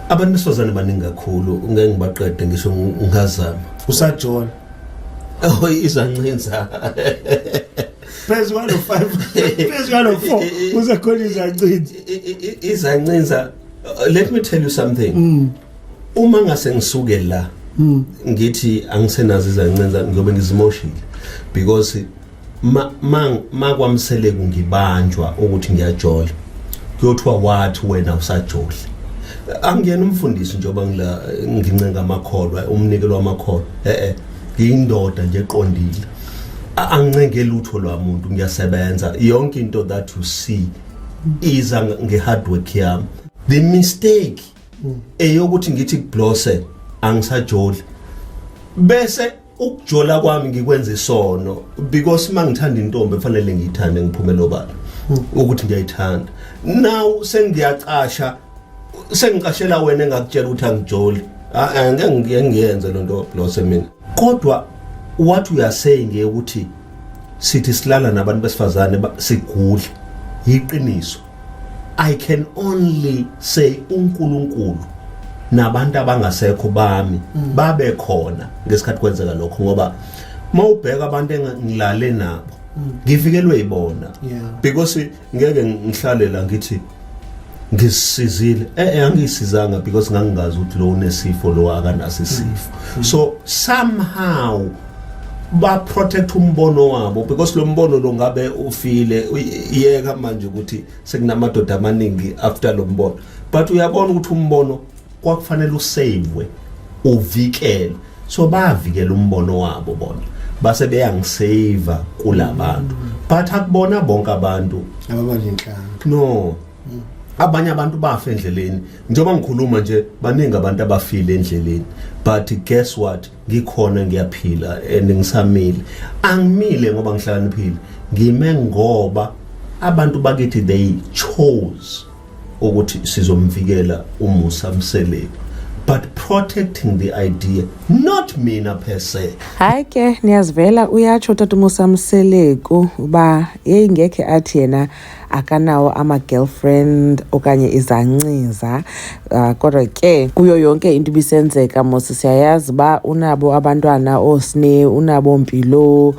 abantu besifazane baningi kakhulu ngeke ngibaqede ngisho ngazama usajola oh izancinza phezu kwalo 5 phezu kwalo 4 uzakhona izancinza izancinza let me tell you something mm. uma ngase ngisuke la mm. ngithi angisenazo izancinza ngiyobe ngizimoshile because ma ma makwamseleku ngibanjwa ukuthi ngiyajola kuyothiwa wathi wena usajola angiyena umfundisi njengoba ngila ngincenga amakholwa umnikelo wamakholwa eh eh ngiyindoda nje eqondile angincenge lutho lwamuntu ngiyasebenza yonke into that you see iza ngehard work yami the mistake eyokuthi ngithi kublose angisajoli bese ukujola kwami ngikwenza isono because uma ngithanda intombi kufanele ngiyithande ngiphume nobala ukuthi ngiyayithanda now sengiyacasha sengicashela wena engakutshela ukuthi angijoli ah, ah, ngeke ngiyenze lo nto blose mina kodwa wathi uyasay nge ukuthi sithi silala nabantu besifazane sigudla yiqiniso I can only say uNkulunkulu nabantu abangasekho bami mm. babe khona ngesikhathi kwenzeka lokho ngoba mawubheka abantu engilale nabo mm. ngifikelwe yibona because ngeke ngihlalela ngithi ngisizile eh, eh angisizanga because ngangingazi ukuthi lo unesifo lo akanaso isifo mm. so somehow baprotect umbono wabo because lo mbono lo ngabe ufile iyeka manje ukuthi sekunamadoda amaningi after lo mbono but uyabona ukuthi umbono kwakufanele usavwe uvikelwe so bavikela umbono wabo bona base beyangisave kulabantu but akubona bonke abantu ababalinhlanga no abanye abantu bafa endleleni njengoba ngikhuluma nje baningi abantu abafile endleleni but guess what ngikhona ngiyaphila and ngisamile angimile ngoba ngihlakaniphile ngime ngoba abantu bakithi they chose ukuthi sizomvikela umusa mseleku but protecting the idea not mina per se hayi ke niyazivela uyatsho tata umusa mseleku uba yeyi ngekhe athi yena akanawo ama-girlfriend okanye izanciza uh, kodwa ke kuyo yonke into ibisenzeka mos siyayazi uba unabo abantwana oosne unabo mpilo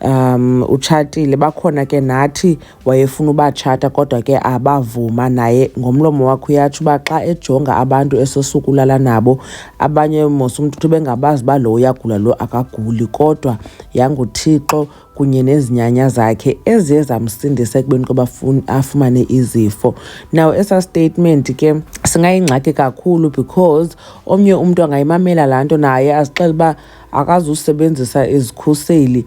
um utshatile bakhona ke nathi wayefuna ubatshata kodwa ke abavuma naye ngomlomo wakhe uyatsho uba xa ejonga abantu esosukulala nabo abanye mos umntu uthi bengabazi uba lo uyagula lo akaguli kodwa yanguthixo kunye nezinyanya zakhe eziye zamsindisa ekubeni koba afumane izifo now esa statement ke singayingxaki kakhulu because omnye umntu angayimamela laa nto naye azixele uba akazusebenzisa izikhuseli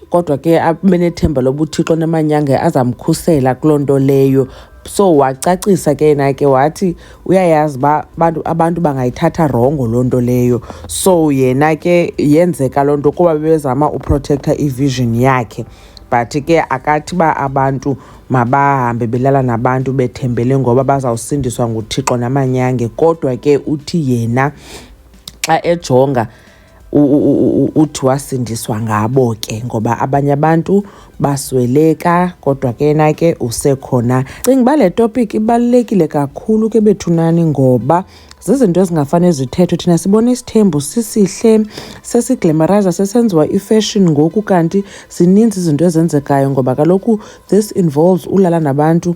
kodwa ke abe nethemba lobuthixo nemanyanga azamkhusela kuloo nto leyo so wacacisa ke yena ke wathi uyayazi uba abantu abantu bangayithatha rongo loo nto leyo so yena ke yenzeka loo nto kuba bebezama uprotektha ivision yakhe but ke akathi uba abantu mabahambe belala nabantu bethembele ngoba bazawusindiswa nguthixo namanyange kodwa ke uthi yena xa ejonga uthi wasindiswa ngabo ke ngoba abanye abantu basweleka kodwa ke na ke usekhona cinga uba le topic ibalulekile kakhulu ke bethunani ngoba zizinto ezingafane zithethwe thina sibona isithembu sisihle sesiglamoriza sesenziwa ifashion ngoku kanti zininzi izinto ezenzekayo ngoba kaloku this involves ulala nabantu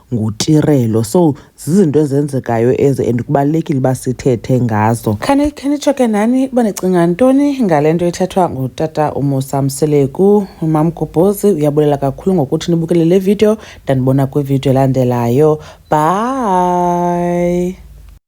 ngutirelo so zizinto ezenzekayo ezi and kubalulekile uba sithethe ngazo khani khenitsho ke nani uba nicinga ntoni ngale nto ithethwa ngutata umusa mseleku mamgubhozi uyabulela kakhulu ngokuthi nibukele le video ndanibona kwividiyo elandelayo bye